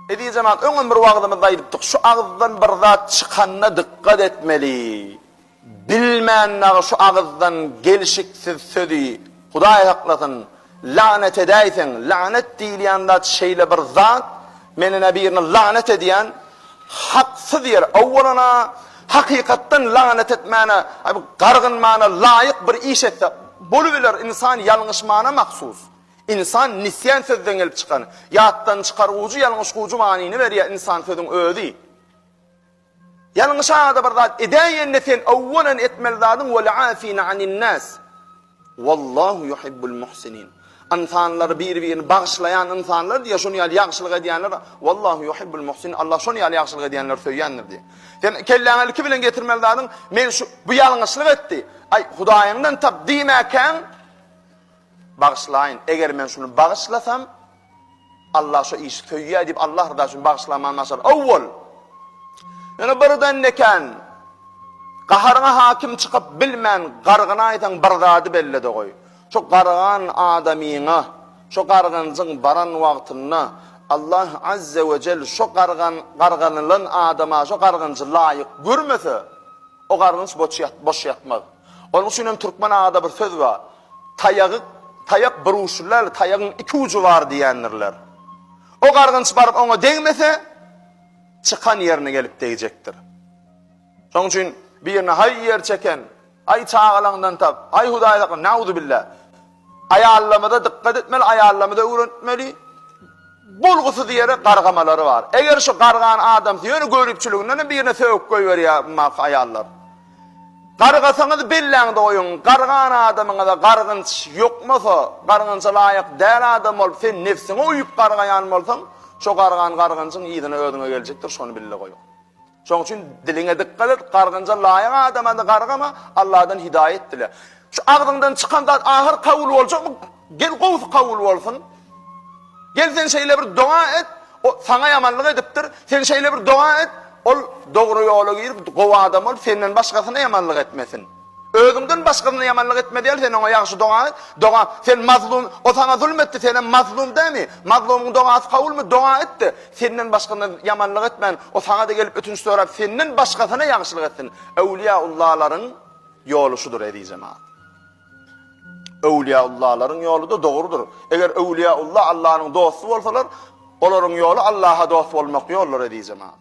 Eziz jemaat, öňem bir wagzymyzda aýdypdyk, şu agyzdan bir zat çykanda dykgat etmeli. Bilmän dagy şu agyzdan gelşiksiz sözi, Hudaý saklasyn, lagnet edäýseň, lagnet diýilýän zat şeýle bir zat, men ine birini lagnet edýän, haksyz ýere, owwalan-a, hakykatdan lagnet etmäne, gargynmana laýyk bir iş etse, bolubiler, ynsan ýalňyşmana mahsus. Insan nisýan sözden gelip çykan, ýatdan çykargujy ýalňyş gujy manyny berýär insan sözüň özi. Ýalňyş ada bir zat edäýende sen owwalan etmeli zadyň wal-afina anin-nas. Wallahu yuhibbul muhsinin. Ynsanlary bir-birini bagyşlaýan ynsanlar diýýär şuny ýaly ýagşylyk edýänler Wallahu yuhibbul muhsinin Allah şuny ýaly ýagşylyk edýänleri söýýändir diýýär. Sen kelläňe ilki bilen getirmeli zadyň men şu bu ýalňyşlyk etdi. Aý hudaýyňdan tap diýmäkäň Bagyşlaýyn, eger men şuny bagyşlasam, Allah şu işi söýýär diýip Allah ryzasy üçin bagyşlaman başar. Owwal, ýöne birden nekäň gaharyňa hakim çykyp bilmän gargynaýsaň bir zady belle-de goý. Şu gargan adamyňa, şu gargynjyň baran wagtynda Allah Azze we Cell şu gargan garganylan adama şu gargynjy laýyk görmese, o gargynç boş ýatmaz. Onuň üçin hem türkmen ada bir söz bar, Taýagy, taýak bir uçly däl, taýagyň iki ujy bar diýendirler. O gargynç baryp oňa degmese, çykan ýerine gelip degjekdir. Şonuň üçin birine haý ýer çeken, haý çagalaňdan tap, haý Hudaý sakla, nauzubilla! Aýallarymyza dykgat etmeli, aýallarymyza öwretmeli. Bolgusyz ýere gargamalary bar. Eger şu gargan adamsy ýöne göripçiliginden hem birine sögüp goýberýär bu maky aýallar. Gargasaňyz belläňde goýuň, gargan adamyňyza gargynç ýokmasa, gargynça laýyk däl adam bolup sen nebsiňe uýup gargaýan bolsaň, şo gargan gargynjyň yzyna özüňe geljekdir şony bilde goýuň. Şoň üçin diliňe dykgat et, gargynja laýyk adamany gargama, Alladan hidaýat dile. Şu agzyňdan çykan zat ahyr kabul boljakmy? Gel gowusy kabul bolsun. Gel sen şeýle bir doga et, o saňa ýamanlyk edipdir. Sen şeýle bir doga et, ol dogry ýola girip, gowy adam bolup, senden başgasyna ýamanlyk etmesin. Özüňden başgasyna ýamanlyk etme däl, sen oňa ýagşy doga et, doga, sen mazlum, o saňa zulum etdi, senem mazlum dämi? Mazlumyň dogasy kabulmy? Doga et-de, senden başgasyna ýamanlyk etmän, o saňa-da gelip ötünç sorap, senden başgasyna ýagşylyk etsin. Öwlüýäullalaryň ýoly şudur, eziz jemagat. Öwlüýäullalaryň ýoly-da dogrudyr. Eger öwlüýäulla Allanyň dosty bolsalar, olaryň ýoly Allaha dost bolmak ýoldur, eziz jemagat.